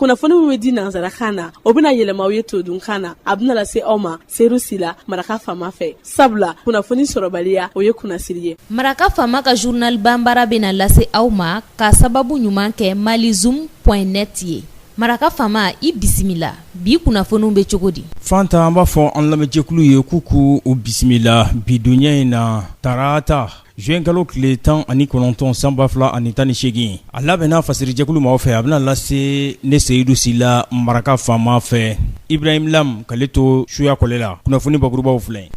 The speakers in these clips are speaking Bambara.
kunnafoni min bɛ di nansarakan na o bɛna yɛlɛma aw ye todunkan na a bɛna lase aw ma seyidu sila maraka faama fɛ sabula kunnafoni sɔrɔbaliya o ye kunnasiri ye maraka faama ka journal banbara bɛna lase aw ma ka sababu ɲuman kɛ malizoom net ye maraka faama i bisimila bi kunnafoniw bɛ cogo di fanta an b'a fɔ an lamɛnjɛkulu ye k'u k'u bisimila bi donya in na tarata Zuwɛnkalo tile tan ani kɔnɔntɔn san ba fila ani tan ni segin a labɛnna fasirijɛkulu ma fɛ a bɛna lase ne seyidu sila maraka faama fɛ ibrahim lam k'ale to suya kɔlɛ la kunnafoni bakurubaw filɛ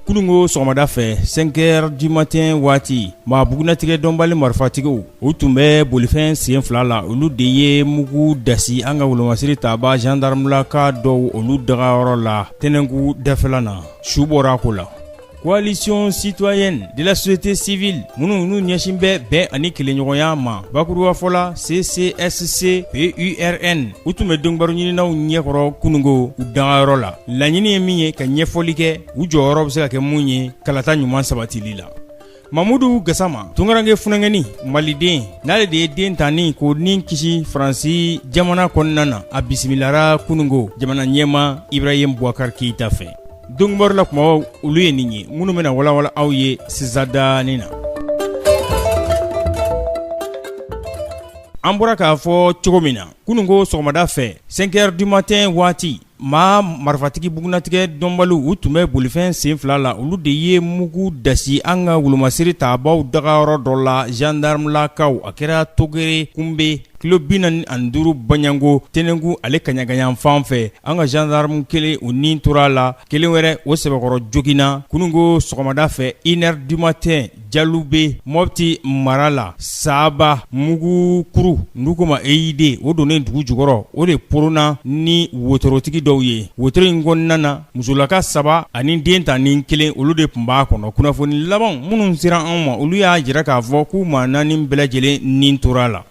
kununko sɔgɔmada fɛ cinq heures du matin waati maa bugunnatigɛ dɔnbali marifatigiw u tun bɛ bolifɛn sen fila la olu de ye mugu dasi an ka wolomasiri tabaa jandaramulaka dɔw olu dagayɔrɔ la tɛnɛnku dafɛla na su bɔra a ko la coalition citoyenne de la société civile minnu n'u ɲɛsin bɛ bɛn ani kelenɲɔgɔnya ma bakuruba fɔ la ccsc purn u tun bɛ donkibaru ɲininaw ɲɛkɔrɔ kununko u dagayɔrɔ la laɲini ye min ye ka ɲɛfɔli kɛ u jɔyɔrɔ bɛ se ka kɛ mun ye kalata ɲuman sabatili la Mamudu gasama tunkarankɛ funankɛnin maliden n'ale de ye dentanin k'o ni kisi faransi jamana kɔnɔna na a bisimilara kununko jamana ɲɛmaa ibrahim boubacar keita fɛ donkibaru la kumabaw olu ye nin ye minnu bɛna walawala aw ye sisan danin na an bɔra k'a fɔ cogo min na kununko sɔgɔmada fɛ cinq heures du matin waati Maa marifatigi bugunnatigɛ dɔnbaliw u tun bɛ bolifɛn sen fila la olu de ye mugu dasi an ka wolomasiri tabaaw dagayɔrɔ dɔ la zandaramulakaw a kɛra togere kunbe kilo bi naani ni duuru banyanko tɛnɛnku ale kaɲaka yanfan fɛ an ka zandaramu kelen o ni tora a la kelen wɛrɛ o sɛbɛkɔrɔ joginna kununko sɔgɔmada fɛ une heure du matin Jalube mɔti mara la saba mugukuru dɔw k'o ma eid o donnen dugu jukɔrɔ o de poronna ni wotorotigi dɔw ye wotoro in kɔnɔna na musolaka saba ani dentanin kelen olu de tun b'a kɔnɔ kunnafoni laban minnu sera anw ma olu y'a jira k'a fɔ k'u maa naani bɛɛ lajɛlen ni tora a la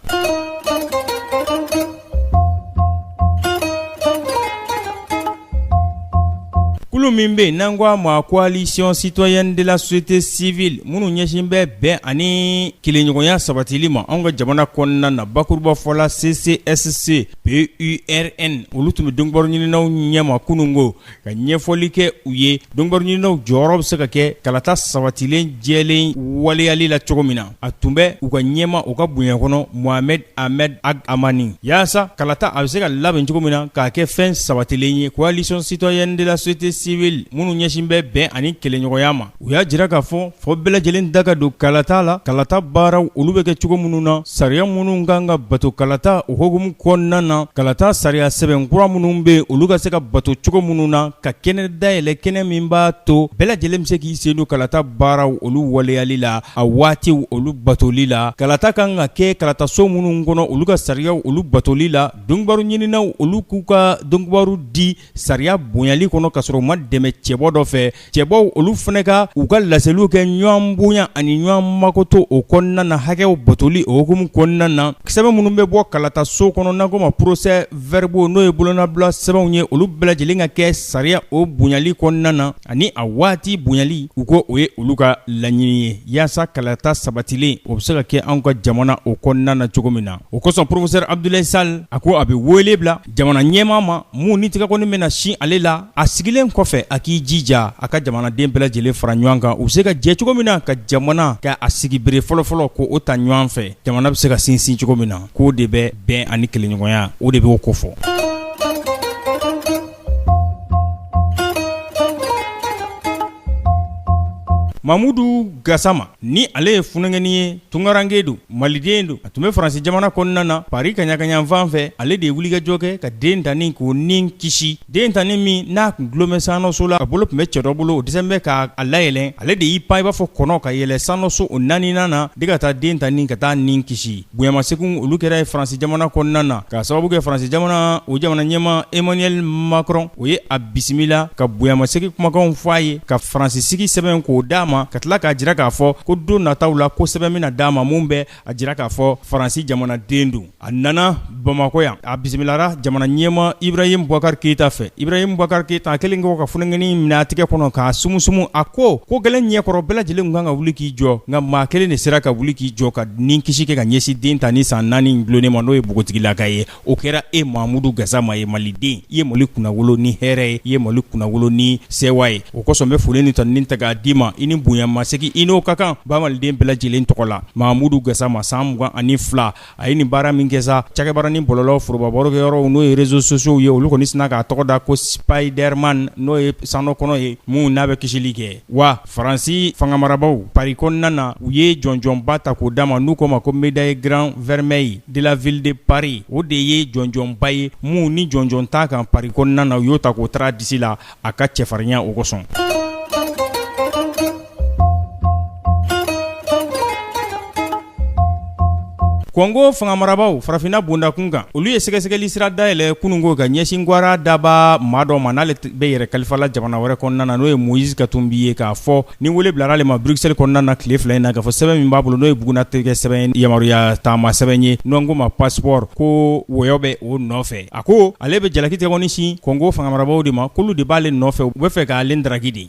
kulu min bɛ yen n'an ko a ma coalition citoyenne de la société civile minnu ɲɛsin bɛ bɛn ani kelenɲɔgɔnya sabatili ma anw ka jamana kɔnɔna na bakuruba fɔ la ccsc PURN olu tun bɛ donkibaru ɲininaw ɲɛma kununko ka ɲɛfɔli kɛ u ye donkibaru ɲininaw jɔyɔrɔ bɛ se ka kɛ kalata sabatilen jɛlen waleyali la cogo min na a tun bɛ u ka ɲɛmaa o ka bonya kɔnɔ mohamed ahmed ag hamani yaasa kalata a bɛ se ka labɛn cogo min na k'a kɛ fɛn sabatilen ye coalition citoyenne de la société civile minnu ɲɛsin bɛ bɛn ani kelenɲɔgɔnya ma u y'a jira k'a fɔ fɔ bɛɛ lajɛlen da ka don kalata la kalata baaraw olu bɛ kɛ cogo minnu na sariya minnu ka kan ka bato kalata o hukumu kɔnɔna na kalata sariya sɛbɛn kura minnu bɛ yen olu ka se ka bato cogo minnu na ka kɛnɛ dayɛlɛ kɛnɛ min b'a to bɛɛ lajɛlen bɛ se k'i sen don kalata baaraw olu waleyali la a waatiw olu batoli la kalata ka kan ka kɛ kalataso minnu kɔnɔ olu ka sariyaw olu batoli la donkibaru ɲininaw olu k'u ka donkibaru di sariya bonyali kɔnɔ ka sɔrɔ u ma dɛmɛ cɛbɔ dɔ fɛ cɛbɔw olu fana ka u ka laseliw kɛ ɲɔgɔn bonya ani ɲɔgɔn makoto o kɔnɔna na hakɛw batoli o hukumu kɔnɔna na sɛbɛn minnu bɛ bɔ kalata so kɔnɔ n'an ko ma procès verbaux n'o ye bolonɔbila sɛbɛnw ye olu bɛɛ lajɛlen ka kɛ sariya o bonyali kɔnɔna na ani a waati bonyali u ko o ye olu ka laɲini ye yaasa kalata sabatilen o bɛ se ka kɛ anw ka jamana o kɔnɔna na cogo min na o kosɔn professeur Abdoulaye Sall a ko a bɛ wele bila jamana ɲɛmaa ma min ni tɛgɛkɔni bɛna sin ale la a sigilen kɔfɛ a k'i jija a ka jamanaden bɛɛ lajɛlen fara ɲɔgɔn kan u bɛ se ka jɛ cogo min na ka jamana ka a sigi bere fɔlɔfɔlɔ ko o ta ɲɔgɔn fɛ jamana bɛ se ka sinsin cogo min na k'o de bɛ bɛn ani kelenɲɔgɔnya o de b'o kofɔ Mamudu gasama ni ale ye funankɛnin ye tungaranke don maliden don a tun bɛ faransi jamana kɔnɔna na Paris kaɲagayanfan fɛ ale de ye wulikajɔ kɛ ka dentanin k'o ni kisi dentanin min n'a tun dulomɛ sanso la a bolo tun bɛ cɛ dɔ bolo o dɛsɛlen bɛ k'a layɛlɛn ale de y'i pan i b'a fɔ kɔnɔ ka yɛlɛ sanso o naaninan na de ka taa dentanin ka taa ni kisi Bonyamaseginw olu kɛra a ye faransi jamana kɔnɔna na ka sababu kɛ faransi jamana o jamana ɲɛma Emmanuel Macron o ye a bisimila ka bonyamasegin kumakanw fɔ a ye ka faransi sigi sɛbɛn k'o d'a ma ka tila k'a jira k'a fɔ ko don nataw la ko sɛbɛn bɛna d'a ma min bɛ a jira k'a fɔ faransi jamanaden don a nana bamakɔ yan A bisimilara jamana ɲɛma Ibrahim Boubacar Keita fɛ Ibrahim Boubacar Keita a kɛlen kɔ ka funankɛnin minɛ a tɛgɛ kɔnɔ k'a sumusumu a ko ko gɛlɛn ɲɛkɔrɔ bɛɛ lajɛlen kan ka wuli k'i jɔ nka maa kelen de sera ka wuli k'i jɔ ka ni kisi kɛ ka ɲɛsin dentanin san naani in dulonnen ma n'o ye bogotigilaka ye o kɛra e mamudu gasama ye maliden i ye mali kunnawolo ni hɛrɛ ye i ye mali kunnawolo ni sɛwa ye o kosɔn bɛ foli ni tanuni ta k'a d'i ma i ni bonyamasegin i n'o ka kan ba maliden bɛɛ lajɛlen tɔgɔ la mamudu gasama san mugan ani fila A ye nin baara min kɛ sa cakɛbaranin bɔlɔlɔ foroba barokɛyɔrɔw n'o ye réseaux sociaux ye olu kɔni sina k'a tɔgɔ da ko Spiderman n'o ye san kɔnɔ ye min n'a bɛ kisili kɛ wa faransi fanga marabagaw Paris kɔnɔna na u ye jɔnjɔnba ta k'o d'a ma n'u ko ma ko médaille grand vermeil de la ville de Paris o de ye jɔnjɔnba ye min ni jɔnjɔn t'a kan Paris kɔnɔna na u y'o ta k'o tar'a disi la a ka cɛfarinya o kosɔn kɔngo fangamarabaaw farafinna bondakun kan olu ye sɛgɛsɛgɛli sira dayɛlɛ kununko ka ɲɛsin gwara daba maa dɔ ma n'ale bɛ yɛrɛ kalifa la jamana wɛrɛ kɔnɔna na n'o ye moise katumbi ye k'a fɔ ni wele bilara ale ma bruxelles kɔnɔna na tile fila in na k'a fɔ sɛbɛn min b'a bolo n'o ye bugunnatigɛ sɛbɛn yamaruya taama sɛbɛn ye n'an ko ma passeport ko wɔyɔ bɛ o nɔfɛ A ko ale bɛ jalaki tɛgɛkɔni sin kɔngo fangamarabagaw de ma k'olu de b'ale nɔfɛ u b'a fɛ k'ale ndaraki de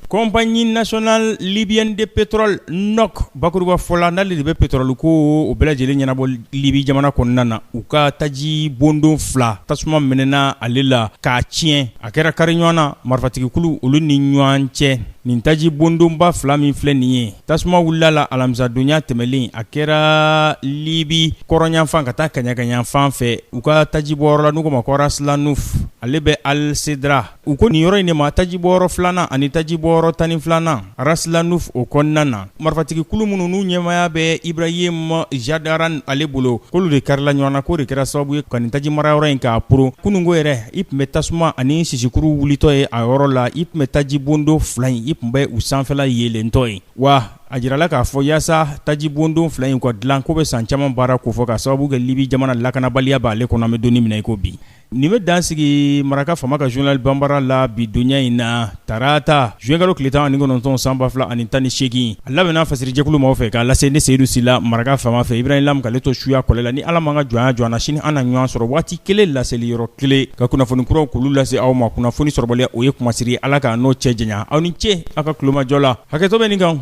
compagnie nationale libyenne de pétrole noc bakuruba fɔ la n'ale de bɛ petɔrɔli ko o bɛɛ lajɛlen ɲɛnabɔ libi jamana kɔnɔna na u ka taji bondon fila tasuma mɛnɛna ale la k'a tiɲɛ a kɛra kari ɲɔgɔn na marifatigikulu olu ni ɲɔgɔn cɛ Nin taji bondonba fila min filɛ nin ye tasuma wulila a la alamisadonya tɛmɛlen a kɛra libi kɔrɔnyanfan ka taa kɛɲɛkanyanfan fɛ u ka tajibɔyɔrɔ la n'u ko ma ko raslanuf ale bɛ al sedra u ko nin yɔrɔ in de ma tajibɔyɔrɔ filanan ani tajibɔyɔrɔ tan ni filanan raslanuf o kɔnɔna na marifatigikulu minnu n'u ɲɛmaaya bɛ Ibrahim Jadaran ale bolo, k'olu de karila ɲɔgɔn na, k'o de kɛra sababu ye ka nin tajimarayɔrɔ in k'a poron. Kununko yɛrɛ, i tun bɛ tasuma ani sisikuru wulitɔ ye a yɔrɔ la, i tun bɛ tajibondon fila in, i tun bɛ u sanfɛla yeelentɔ ye. Wa a jirala k'a fɔ yaasa tajibondon fila in ka dilan, k'o bɛ san caman baara kofɔ, k'a sababu kɛ Libi jamana lakanabaliya b'ale kɔnɔ, an bɛ don min na i ko bi. Nin bɛ dan sigi maraka fama ka journal banbara la bi donya in na tarata zuwɛnkalo tile tan ni kɔnɔntɔn san ba fila ani tan ni segin a labɛnna fasiri jɛkulu maaw fɛ k'a lase ne seyidu sila maraka fama fɛ ibrahim lam k'ale to suya kɔlɛ la ni ala m'an ka jɔnya jɔ na sini an na ɲɔgɔn sɔrɔ waati kelen laseli yɔrɔ kelen ka kunnafoni kuraw k'olu lase aw ma kunnafoni sɔrɔbaliya o ye kunmasiri ye ala k'an n'o cɛ janya aw ni ce aw ka kulomajɔ la hakɛto bɛ nin kan